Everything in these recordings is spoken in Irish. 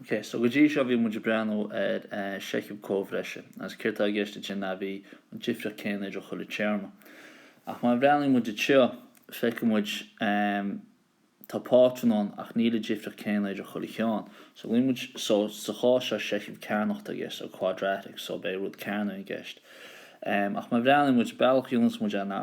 OK, so go dtí seo bhí muid ag breathnú ar sheicheamh comhbhreise agus céard tá i gceist ansin ná bhí an difríocht céanna idir chuile téarma. Ach má bhreathnaíonn muid anseo, feicfidh muid tá pátrún ann ach níl an difríocht céanna idir chuile cheann. So glaonn muid, so sa chás seo seicheamh cearnach tá i gceist, so quadratic, so beidh rud cearnach i gceist. Ach má bhreathnaíonn muid, bealach a dhéananns muid é ná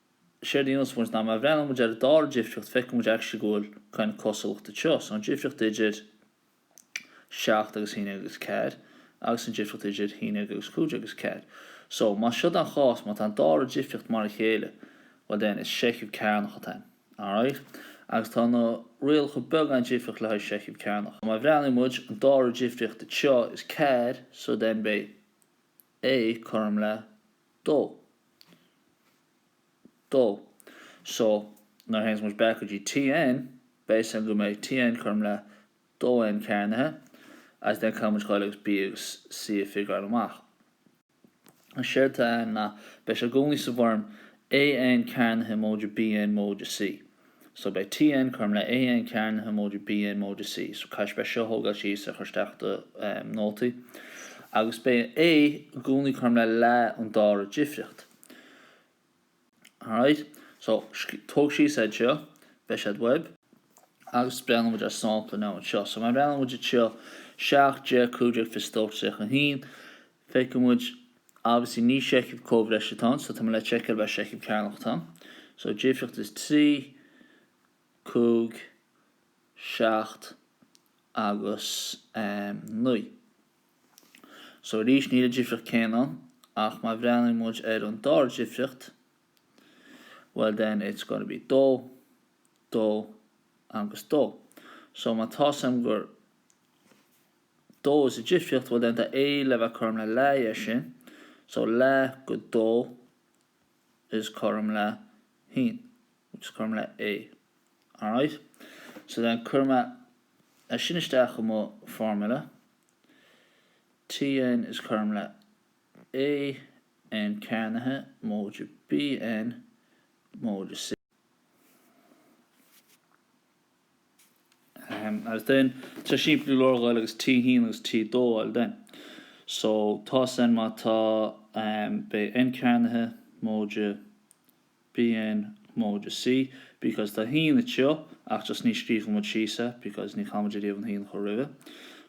séard a dhéanas muid ná má bhreathnaíonn muid ar an dara difríocht feicfidh muid actually go bhfuil kind of cosúlacht anseo. So an difríocht idir seacht agus haon déag agus ceathair agus an difríocht idir haon déag agus cúig déag agus ceathair. So más seo an chás má tá an dara difríocht mar a chéile well then is seicheamh cearnach atá ann. Alright? Agus tá na rialacha beagán difríocht le haghaidh seicheamh cearnach. Má bhreathnaíonn muid an dara difríocht anseo is ceathair so then beidh A cothrom le dó. dó. So, nuair a théanns muid back go dtí TN, beidh a fhios againn go mbeidh TN cothrom le dó N cearnaithe agus then caithfidh muid a ghabháil agus B agus C a figureáil amach. Agus séard atá ann ná, beidh sé i gcónaí sa bhfoirm AN cearnaithe móide BN móide C. So beidh TN cothrom le AN cearnaithe móide BN móide C. So caithfidh sibh é seo a thógáil síos a chur isteach i do nótaí agus beidh an A i gcónaí cothrom le leath an dara difríocht. Alright, so tóg síos iad seo, beidh siad uaibh agus breathnóidh muid ar sampla amháin anseo. So má bhreathnaíonn muid anseo 7, 10, 15, 22, 31, Feicfidh muid obviously ní seicheamh comhbhreise atá ann so tá mé le seiceáil ab é seicheamh cearnach atá ann so difríocht is 3, 5, 7 agus 9. So arís níl an difríocht céanna ann ach má bhreathnaíonn muid ar an dara difríocht well then it's going to be 2, 2 agus 2. So má tá's aim gur dó is ea an difríocht well then tá A le bheith cothrom le leath dhe sin, so leath dhe dó is cothrom le haon, which is cothrom le A. Alright? So then cuirfidh mé é sin isteach i mo formula, Tn is cothrom le A n cearnaithe móide Bn móide C. Agus then tá sé simplí go leor a ghabháil agus T1 agus T2 a fháil then. So tá a fhios againn má tá beidh N cearnaithe móide bn móide C because tá haon anseo ach just ní scríobhfaidh muid síos é because ní chaithfidh muid ariamh an haon a chur roimhe.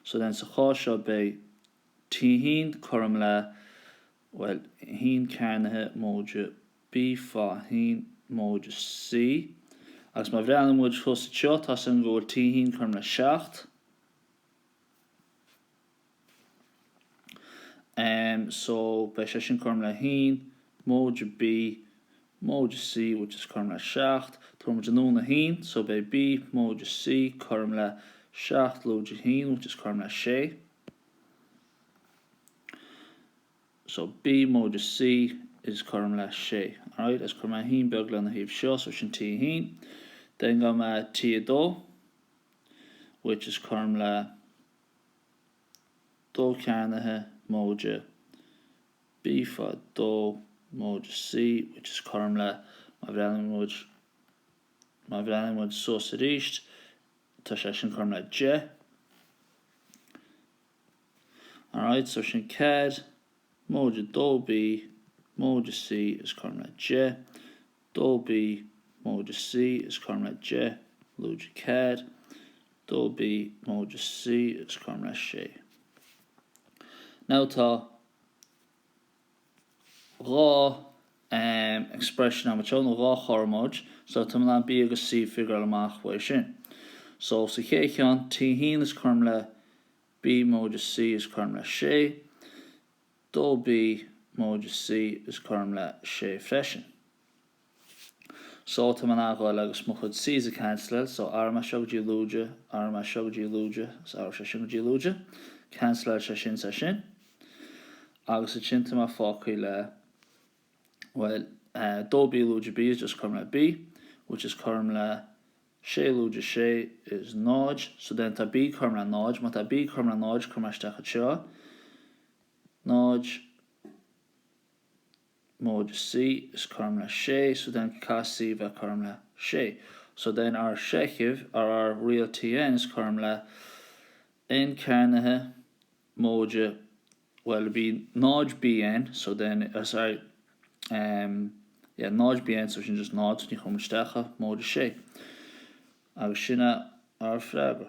So then sa chás seo beidh T1 cothrom le Bhuel, haon cearnaithe móide B fá haon móide C, agus má bhreathnaíonn muid thuas anseo, tá a fhios againn go bhfuil T haon cothrom le seacht. Em, so, beidh sé sin cothrom le haon móide B móide C, which is cothrom le seacht. Tabharfaidh muid anonn an haon, so beidh B móide C cothrom le seacht lúide haon, which is cothrom le sé. So B móide C is cothrom le sé. Alright, agus cuirfidh mé haon beag lena thaobh seo, so sin T a haon. Then gabhfaidh mé T a dó, which is cothrom le dó cearnaithe móide B fá dó móide C, which is cothrom le má bhreathnaíonn muid, má bhreathnaíonn muid suas arís, tá sé sin cothrom le deich. Alright, so sin ceathair móide dó B móide C is cothrom le deich, dó B móide C is cothrom le deich lúide ceathair, dó B móide C is cothrom le sé. Now tá. dhá expression agam, nó dhá chothromóid, so tá mé in ann B agus C figuráil amach uaidh sin. So sa chéad cheann, T haon is cothrom le B móide C is cothrom le sé, dó B móide C is cothrom le sé freisin. So tá mé in ann a ghabháil agus mo chuid C's a canceláil, so athróidh mé seo go dtí lúide, athróidh mé seo go dtí lúide, is athróidh sé sin go dtí lúide, canceláil sé sin 's é sin. Agus ansin tá mé fágtha le, bhuel, dó B lúide B is just cothrom le B, which is cothrom le sé lúide sé is náid, so then tá B cothrom le náid, má tá B cothrom le náid, cuirfidh mé isteach anseo, náid, móide C, is cothrom le sé, so then caithfidh C a bheith cothrom le sé, so then ár seicheamh nó ár riail Tn is cothrom le N cearnaithe móide bhuel beidh 0 Bn so then ar sorry em yeah 0 Bn so sin just 0 so ní chuirim isteach é móide sé agus sin é ár freagra.